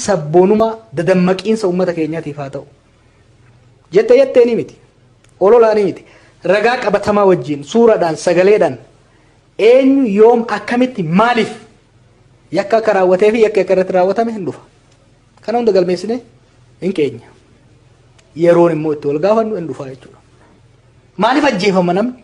sabboonumaa dadammaqiinsa uummata keenyaatiif haa ta'u. Jette jettee ni miti. Ololaa ni miti. Ragaa qabatamaa wajjin suuraadhaan sagaleedhaan eenyu yoom akkamitti maaliif yakka akka raawwatee fi yakka akka irratti raawwatame hin dhufa. Kana hunda galmeessine hin keenya. Yeroon immoo itti wal gaafannu hin dhufa jechuudha. Maaliif ajjeefama namni?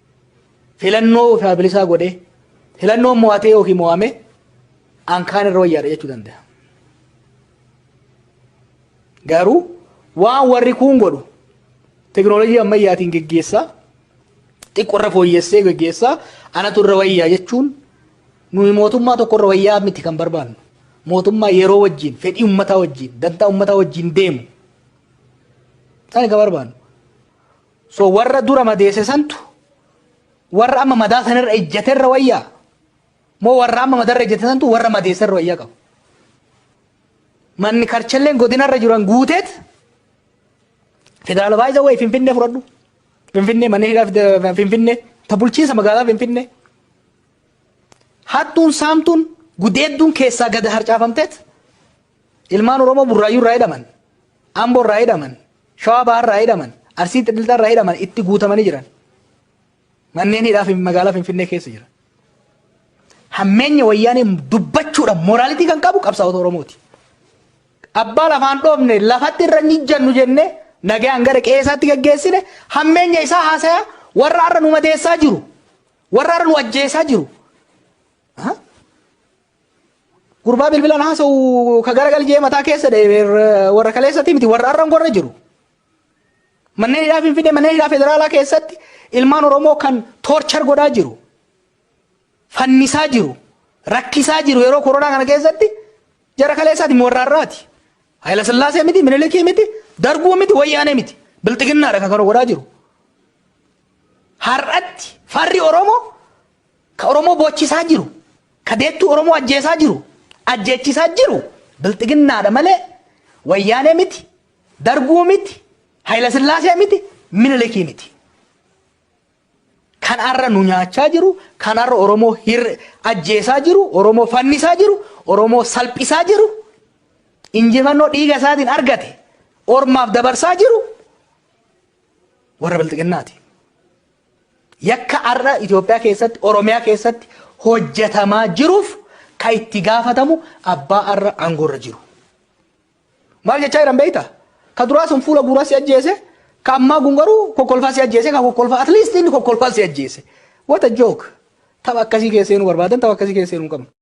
filannoo ofaa bilisaa godhee filannoon mo'atee yookiin mo'ame an kaan irra wayyaadha jechuu danda'a. Garuu waan warri kuun godhu teknooloojii ammayyaatiin geggeessaa xiqqoo irra fooyyessee geggeessaa anatu irra wayyaa jechuun nuyi mootummaa tokko irra wayyaa miti kan barbaannu. Mootummaa yeroo wajjin fedhii ummataa wajjin dantaa ummataa wajjin deemu. Isaan kan barbaannu. So warra dura madeesse santu warra amma madaa sanirra ejjaterra wayyaa? Moo warra amma madarra ejjate santu warra madeesserra wayyaa qabu? Manni karchalleen godinarra jiran guuteet federaala baay'isa wayii finfinnee fudhadhu. Finfinnee manneen hidhaa fide- finfinnee ta bulchiinsa magaalaa finfinnee. Hattuun saamtuun gudeedduun keessaa gad harcaafamteet ilmaan Oromoo burraayyuu irraa hidhaman, Amboo irraa hidhaman, Shawaa Bahaarraa hidhaman, Arsii Lixaarraa hidhaman itti guutamanii jiran. Manneen hidhaa fi magaalaa Finfinnee keessa jiran. Hammeenya wayyaanee dubbachuudhaan moraalitii kan qabu qabsaa'ota Oromooti. Abbaa lafaan dhoofne lafatti irra hin ijjannu jennee nagaan gara qe'ee isaatti gaggeessine hammeenya isaa haasayaa warra har'a nu madeessaa jiru. Warra har'a nu ajjeesaa jiru. Gurbaa bilbilaan haasa'u ka gara galjee mataa keessa warra kaleessati miti warra arran gorra jiru. Manneen hidhaa Finfinnee manneen hidhaa federaalaa keessatti ilmaan Oromoo kan toorchar godhaa jiru. Fannisaa jiru. Rakkisaa jiru yeroo koronaa kana keessatti jara kaleessaati warra arraati. Hayila Sillaasee miti, Minilikii miti, Darguu miti, Wayyaanee miti. Bilxiginnaadha kan kana godhaa jiru. Har'atti farri Oromoo Ka Oromoo boochisaa jiru, ka deettuu Oromoo ajjeesaa jiru, ajjeechisaa jiru Bilxiginnaadha malee Wayyaanee miti, Darguu miti, Hayilasillaasee miti, Minilikii miti. Kan har'a nu nyaachaa jiru, kan har'a Oromoo hir ajjeesaa jiru, Oromoo fannisaa jiru, Oromoo salphisaa jiru, injifannoo dhiiga isaatiin argate ormaaf dabarsaa jiru warra Bilxiginnaati. Yakka har'a Itoophiyaa keessatti, Oromiyaa keessatti hojjetamaa jiruuf kan itti gaafatamu abbaa har'a aangoorra jiru. Maal jechaa jiran beektaa? Ka duraa sun fuula guuraa si ajjeese, ka ammaa kun garuu kokkolfaa si ajjeese, ka kokkolfaa at least inni kokkolfaa si ajjeese. What a joke! Tapha akkasii keessa seenuu barbaadan tapha akkasii keessa seenuu hin qabnu.